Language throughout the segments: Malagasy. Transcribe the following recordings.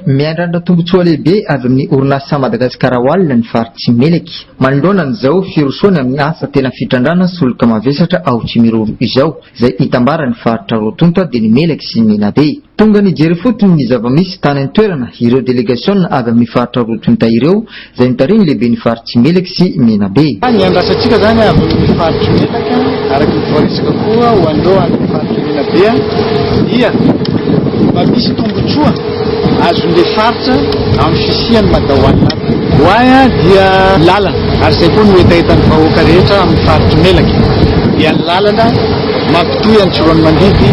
Miandrandra tombontsoa lehibe avy amin'ny orinasa Madagascar Oil ny faritsy Meleky, manoloana an'izao firosoany amin'ny asa tena fitrandrana solika mavesatra ao Tsimiroro izao, izay itambaran'ny faritra roa tonta dia ny Meleky sy ny Menabe. Tonga nijery ifotony ny zava-misy tany an-toerana ireo delegasiona avy amin'ny faritra roa tonta ireo izay nitari ny lehiben'ny faritry Meleky sy Menabe. Ny andrasantsika izany avy amin'ny faritry Melaky, araka ny voarisika koa ho an'ireo any amin'ny faritry Menabe, dia mba misy tombontsoa azon'ilay faritra amin'ny fisian'ny Mada One Lap. Why dia ny lalana, ary izay koa no hetahetan'ny vahoaka rehetra amin'ny faritry Melaky, dia ny lalana mampitohy an'i Tsiroanomandidy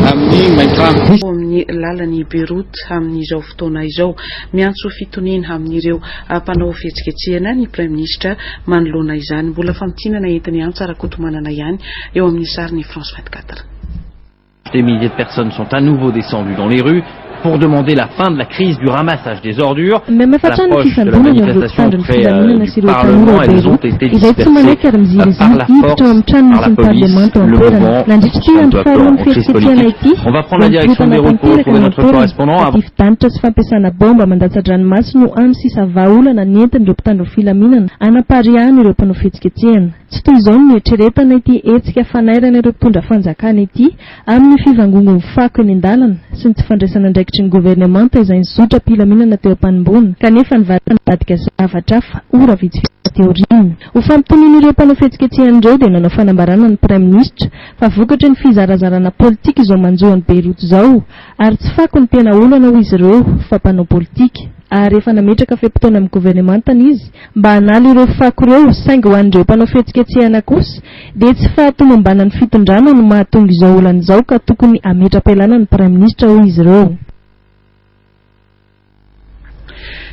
amin'ny Maintirano. Ao amin'ny lalan'i Beyrouth amin'izao. fotoana izao. Miantso fitoniana amin'ireo mpanao fihetsiketsehana ny Praiminisitra manoloana izany. Mbola famintinana entin'i Antsa Rakotomanana ihany eo amin'ny sarin'i France vingt quatre. Des milliers de personnes sont à nouveau descendues dans les rues pour demander la fin de la crise du ramassage des ordures. Mihamaimbo hatrany ny fisamborana ireo mpitandro ny filaminana sy ireo tanora ao Beyrouth, izay tsy manaiky ary miziriziry hiditra ao amin'ny tranony sy ny parlemanta ao an-toerana. Nandritra ity andro faharoan'ny fihetsiketsehana ity, voampitolotana tanteraka ny ao an-toerana. Fadifidanitra sy fampiasana baomba mandatsa-dranomaso no hany sisa vahaolana nentin'ireo mpitandro filaminana hanapariahana ireo mpanao fihetsiketsehana. Tsy toy izao no nieritreretana ity hetsika fanairana ireo mpitondra fanjakana ity amin'ny fivangongon'ny fako eny an-dalana sy ny tsy fandraisana andraikitry ny governemanta izay nizotra am-pilaminana teo am-panomboana kanefa nivadika zavatra hafa ora vitsivitsy taty aoriana. Ho fampitonian'ireo mpanao fihetsiketsehana ireo dia nanao fanambarana ny Praiminisitra fa vokatry ny fizarazarana politika izao manjo an'i Beyrouth izao Ary tsy fako ny tena olana hoy izy ireo fa mpanao politika ary efa nametraka fe-potoana amin'ny governemantany izy mba hanala ireo fako ireo saingy ho an'ireo mpanao fihetsiketsehana kosa dia tsy fahatomombanan'ny fitondrana no mahatonga izao olana izao ka tokony hametra-pialana ny praiminisitra hoy izy ireo.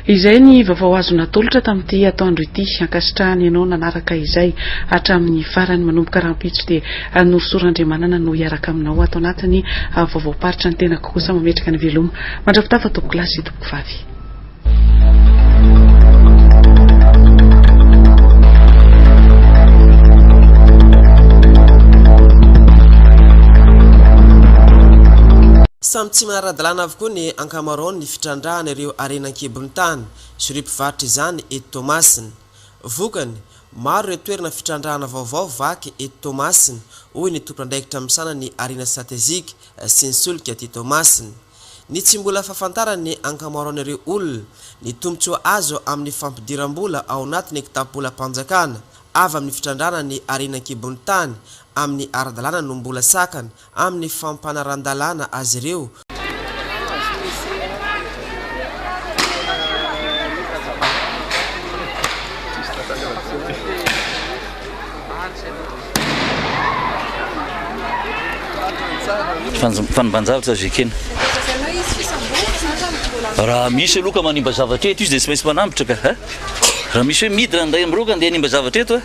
Izay ny vaovao azo natolotra tamin'ity atoandro ity. Ankasitrahany ianao nanaraka izay hatramin'ny farany. Manomboka rahampitso dia Norisoa Randriamanana no hiaraka aminao ato anatin'ny vaovaom-paritra. Ny tenako kosa mametraka ny veloma mandrapitafa tompoko lahy sy tompoko vavy. Samy tsy maha-ara-dalàna avokoa ny ankanjo. ankamaroany ny fitrandrahana ireo harena an-kibon'ny tany sy ireo mpivarotra izany eto Toamasina. Vokany, maro ireo toerana fitrandrahana vaovao vaky eto Toamasina, hoy ny tompon'andraikitra misahana ny harena stratejika sy ny solika aty Toamasina. Ny tsy mbola fahafantaran'ny ankamaroan'ireo olona ny tombontsoa azo amin'ny fampidiram-bola ao anatin'ny kitapolam-panjakana avy amin'ny fitrandrahana ny harena an-kibon'ny tany amin'ny ara-dalàna no mbola sakana amin'ny fampanaran-dalàna azy ireo, Fanimban-javatra Zekena Raha misy aloha ka manimba zavatra eto izy dia tsy maintsy manambotra ka! Raha misy hoe miditra ny iray amin'ireo ka andeha hanimba zavatra eto a!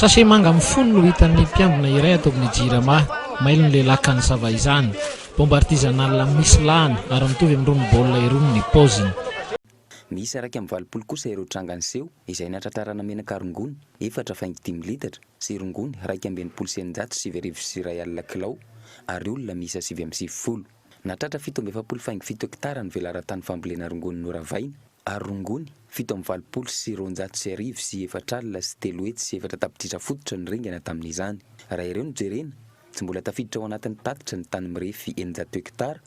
Sachet manga mifono no hitan'ny mpiambina iray ato amin'ny Jirama. Mailo ny lehilahy ka nisava izany. Bomba artisanale misy lahany ary mitovy amin'irony baolina irony ny paoziny. Miisa iraika amby valopolo kosa ireo tranga niseho, izay nahatratrarana menaka rongony efatra faingo dimy litatra sy rongony iraika amby enimpolo sy eninjato sy sivy arivo sy iray alina kilao ary olona miisa sivy amby sivifolo. Nahatratra fito amby efapolo faingo fito hektara ny velaran-tany fambolena rongony noravaina. Ary rongony, fito amby valopolo sy roanjato sy arivo sy efatra alina sy telo hetsy sy efatra tapitrisa fototra no ringana tamin'izany. Raha ireo no jerena, tsy mbola tafiditra ao anatin'ny tatitra ny tany mirefy eninjato hektara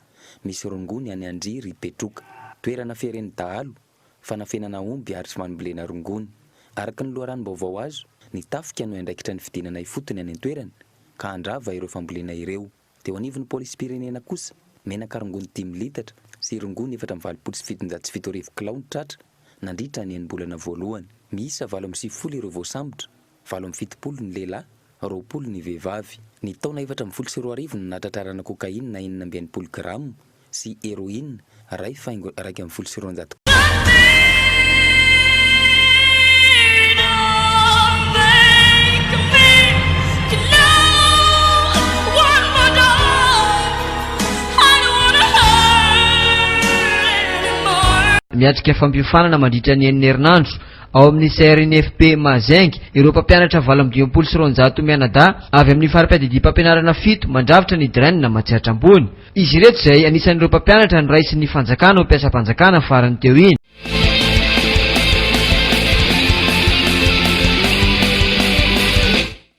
misy rongony any Andria ry Petroka. Toerana fieren'ny dahalo, fanafenana omby ary fmambolena rongony. Araka ny loharanom-baovao azo, ny tafika no iandraikitra ny fidinana ifotony any an-toerana ka handrava ireo fambolena ireo. Teo anivon'ny Polisim-pirenena kosa, menaka rongony dimy litatra sy rongony efatra amby valopolo sy fitonjato sy fito arivo kilao no tratra nandritra ny enim-bolana voalohany. Miisa valo amby sivifolo ireo voasambotra, valo amby fitopolo ny lehilahy, roapolo ny vehivavy. Ny taona efatra ambin'ny folo sy roa arivo no nahatratrarana cocaïne enina amby enimpolo grama, sy Heroine, iray faingo iraika ambin'ny folo sy roanjato. Miatrika fampiofanana mandritra ny enina herinandro ao amin'ny CRNFP Mahazenge ireo mpampianatra valo amby dimampolo sy roanjato mianadahy avy amin'ny fari-piadidiam-pampianarana fito mandrafitra ny Dren matsiatra ambony. Izy ireto izay anisan'ireo mpampianatra noraisin'ny fanjakana ho mpiasam-panjakana farany teo iny.